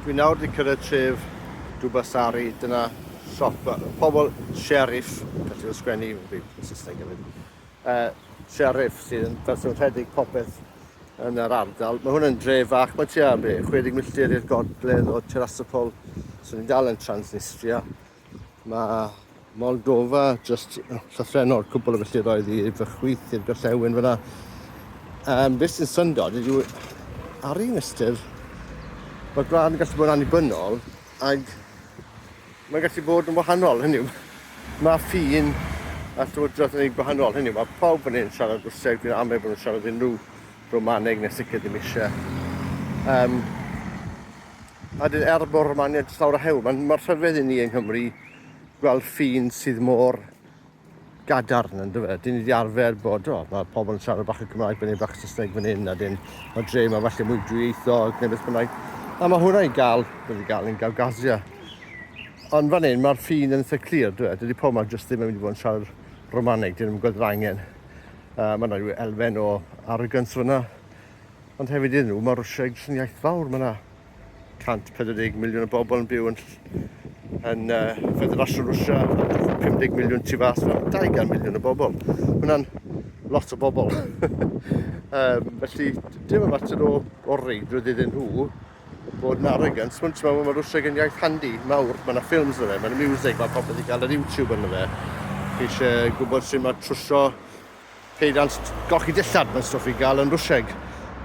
Dwi nawr di cyrraedd tref Dubasari, dyna siop y pobl sheriff, gallu fel sgwennu yn byd yn Saesneg hefyd, uh, sheriff sydd yn fersiwn rhedeg popeth yn yr ardal. Mae hwn yn dre fach, mae tua 60 milltir i'r gogledd o Terasopol, so ni'n dal yn Transnistria. Mae Moldova jyst llythrennol o'r cwbl o filltiroedd i fy chwith i'r gorllewin fyna. Um, beth sy'n syndod ydyw ar un ystyr, mae gwlad yn gallu bod yn annibynnol ac mae'n gallu bod yn wahanol, hynny yw, mae ffin a llywodraeth yn ei gwahanol, hynny yw, mae pawb yn ein siarad Rwseg, fi'n amau bod nhw'n siarad unrhyw Romaneg neu sicr ddim eisiau. Um, A dyn er bod yma angen llawer o hewl, mae'n mor rhyfedd i ni yng Nghymru gweld ffin sydd mor gadarn yn dyfa. Dyn ni wedi arfer bod, o, mae pobl yn siarad bach o Gymraeg, byddai'n bach o Saesneg fan hyn, a dyn mae dre yma falle mwy drwyieithog neu beth bynnag. A mae hwnna i gael, wedi gael yn Gawgasia. Ond fan hyn, mae'r ffin yn eitha clir, dwi. Dydy pobl yma jyst ddim yn mynd i fod yn siarad Romaneg, dyn nhw'n gweld yr angen. Uh, mae yna rhyw elfen o arrogance fyna. Ond hefyd iddyn nhw, mae Rwsia yn sy'n iaith fawr. Mae yna 140 miliwn o bobl yn byw yn, yn uh, Federasiwn Rwsia, 50 miliwn tu fas, 200 miliwn o bobl. Hwna'n lot o bobl. um, felly, dim y mater o, o reidrwydd iddyn nhw bod yn arrogant. Mae'n teimlo bod Rwsieg yn iaith handi, mawr. Mae yna ffilms yna fe, mae yna music, mae popeth i gael ar YouTube yna fe. Chi eisiau gwybod sy'n mae trwsio Peiriant golchi dillad, mae'n stwff i gael yn Rwsieg.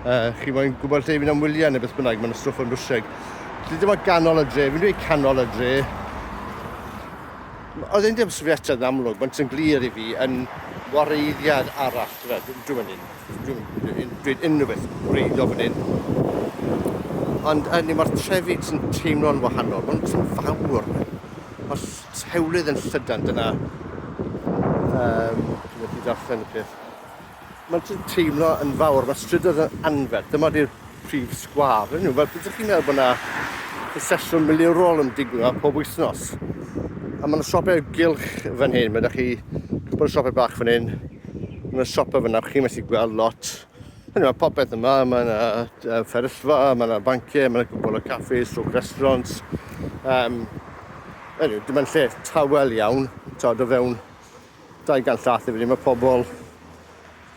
Uh, chi moyn gwybod lle i fynd am wyliau neu beth bynnag, mae'n stwff yn Rwsieg. Dwi ddim o ganol y dre, fi'n dweud canol y dre. Oedd ein dim sefydliad yn amlwg, mae'n sy'n glir i fi yn wareiddiad arall. Dwi'n mynd un, dwi'n dweud unrhyw beth wreiddio fan hyn. Ond hynny, mae'r trefi sy'n teimlo'n wahanol, mae'n sy'n fawr. Mae'r Hewlydd yn llydan, dyna... Yym, dwi methu darllen y peth. Mae'n jyst teimlo yn fawr, mae strydoedd yn anferth, dyma di'r prif sgwâr, yn nhw. Fel bydych chi'n meddwl bod yna sesiwn milwrol yn digwydd yma pob wythnos. A mae yna siopau gylch fan hyn, mae yna chi cwpl o siopau bach fan hyn, mae yna siopau fyna, chi'n methu gweld lot. Mae yna popeth yma, mae yna uh, fferyllfa, mae yna banciau, mae yna cwbl o caffi, sŵc restaurant. Um, anyway, dim ond lle tawel iawn, tawd o fewn 200 llath i fyny, mae pobl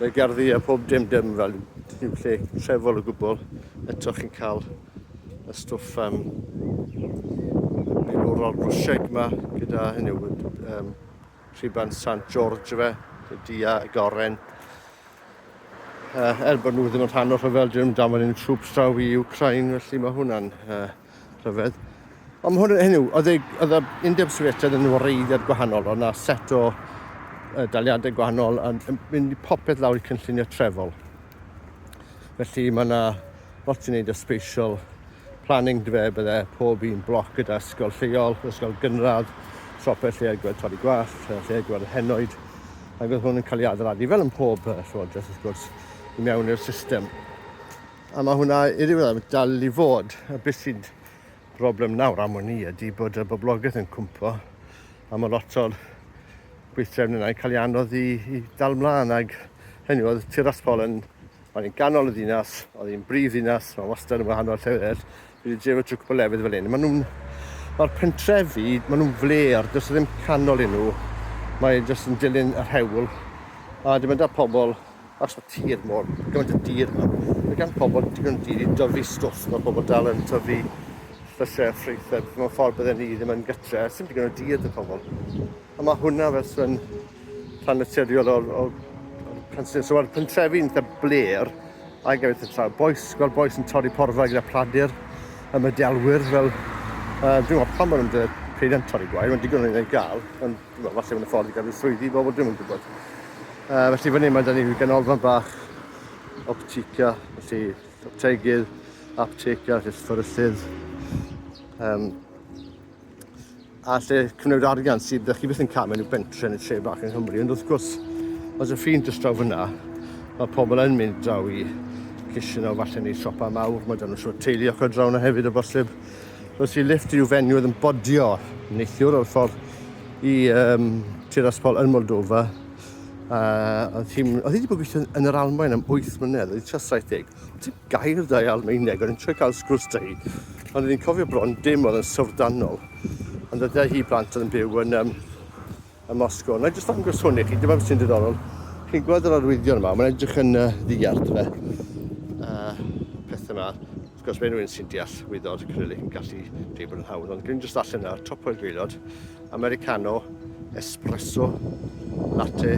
y gerddi a pob dim dim fel yw lle trefol o gwbl. Eto chi'n cael y stwff um, milwrol rwsiaig yma gyda hynny, um, Rhuban Sant George yfe, y dia y goren. Uh, er bod nhw ddim yn rhan o'r rhyfel, dyn nhw'n damod yn trwps draw i Ukraine, felly mae hwnna'n uh, rhyfedd. Ond mae hwn, hynny, oedd y Undeb Sofietaidd yn wreiddiad gwahanol, ond na set o uh, daliadau gwahanol yn, yn mynd i popeth lawr i cynllunio trefol. Felly mae yna lot i wneud o spatial planning dwe bydde pob un bloc gyda ysgol lleol, ysgol gynradd, siopau lle a gweld torri gwallt, lle a gweld yr henoed, ac oedd hwn yn cael ei adeiladu fel yn pob uh, llywodraeth wrth gwrs i mewn i'r system. A mae hwnna i ddiwedd dal i fod. A beth sy'n broblem nawr am hwn i ydy bod y boblogaeth yn cwmpo a mae lot o'r gweithdrefn yna yn cael ei anodd i, i dal mlaen ag hynny oedd Tirasbol yn Mae'n yn ganol y ddinas, oedd hi'n brif ddinas, mae wastad yn wahanol llefydd eraill. Fi wedi dreifo trwy cwpl lefydd fel hyn. Maen nhw'n... Mae'r pentrefi, maen nhw'n fler, does ddim canol i nhw. Mae jyst yn dilyn yr hewl. A dim ond da pobl, achos mae tir mor, gymaint o dir yma. Mae gan pobl digon o dir i dyfu stwff. Mae pobl dal yn tyfu llysiau a ffrwythau, mewn ffordd bydden ni ddim yn gytre. Sim digon o dir da pobl. A mae hwnna fel yn rhan naturiol o'r, o'r, o'r pentrefi. So mae'r pentrefi yn eitha bler ac yn eitha traw. Boes, gweld boes yn torri porfa gyda pladur y medelwyr fel... Uh, dwi'n gwybod pam maen nhw'n dweud pryd yn torri gwair, mae'n digon o'n ei gael, ond dwi'n gwybod, falle mae'n ffordd i gael rhyw swyddi i bobl, dwi'n gwybod. Uh, felly fan hyn mae da ni ganolfan bach optica, felly optegydd, apteca, felly fforysydd, um, a lle cymryd arian sydd ydych chi byth yn cael mewn i'w bentre yn y tre bach yng Nghymru. Ond wrth gwrs, os y ffin jyst draw fyna, mae pobl yn mynd draw i cysyn o falle neu siopa mawr, mae dan nhw siwr teulu ochr draw yna hefyd o bosib. Os i lift i'w fenw oedd yn bodio neithiwr o'r ffordd i um, Tiraspol yn Moldova, a oedd hi wedi bod gweithio yn yr Almaen am 8 mlynedd, oedd hi tra 70, Dim gair da i Almaeneg, o'n i'n trio cael sgwrs da hi. Ond o'n i'n cofio bron dim oedd yn syfrdanol. Ond oedd da hi blant oedd yn byw yn um, y Mosgo. Na i jyst ddangos hwn i chi, dyma beth sy'n diddorol. Chi'n gweld yr arwyddion yma, mae'n edrych yn uh, ddiarth fe. Uh, peth yma, wrth gwrs mae rhywun sy'n deall wyddor acrylic yn gallu dweud bod yn hawdd, ond dwi'n jyst allan yna, top o'r gweilod, Americano, espresso, latte,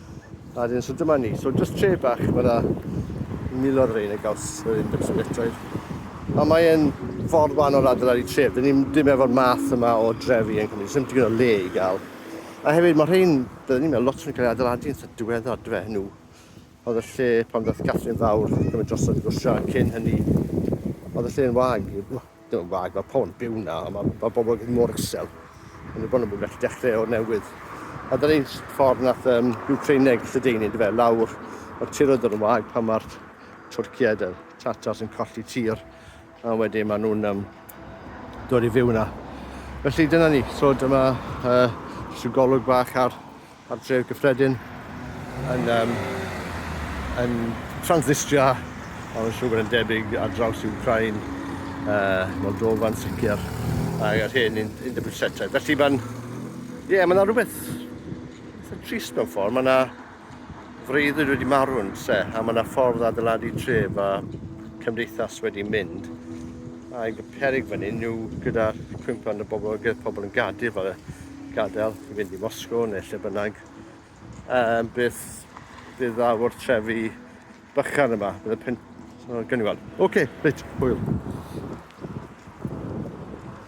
A dyn, so dyma ni. So just tre bach, mae yna milodd rein y gaws yr un bit o letroedd. A mae'n ffordd wan o'r adran i tref. Dyn ni'n dim efo'r math yma o drefi yn Cymru. Sym digon o le i gael. A hefyd mae rhain, byddwn ni'n meddwl, lot yn cael ei adeiladu yn sy'n diweddar, dwi fe, nhw. Oedd y lle pan ddoth Catherine Fawr, gymryd drosodd y gwrsio, cyn hynny, oedd y lle yn wag. Dwi'n wag, mae pobl yn byw yna, a mae, mae pobl yn mor isel. Ond bod nhw'n gallu dechrau o'r newydd. A dyna ni'n ffordd nath um, Ukraineg lledaenu, dy fe, lawr o'r tiroedd yn wag pan mae'r Twrciaid a'r Tatars yn colli tir. A wedyn maen nhw'n um, dod i fyw yna. Felly dyna ni. So dyma uh, jyst golwg bach ar Mae'r dref gyffredin yn yym yn transnistria ond yn siwr bod e'n debyg ar draws Iwcrain, yy Moldofa'n sicr ac yr hen un undeb Rwsietaidd. Felly mae'n ie mae 'na rhywbeth eitha trist mewn ffordd, mae 'na freuddwyd wedi marw yn lle a mae 'na ffordd adeiladu tref a cymdeithas wedi mynd a'i peryg fan hyn yw gyda'r cwymp yn y bobl gyda pobl yn gadael fel y gadael i fynd i Moscow neu lle bynnag, um, beth fydd dda o'r trefi bychan yma. Bydd y pen... So, gen i weld. Oce, okay, reit, hwyl.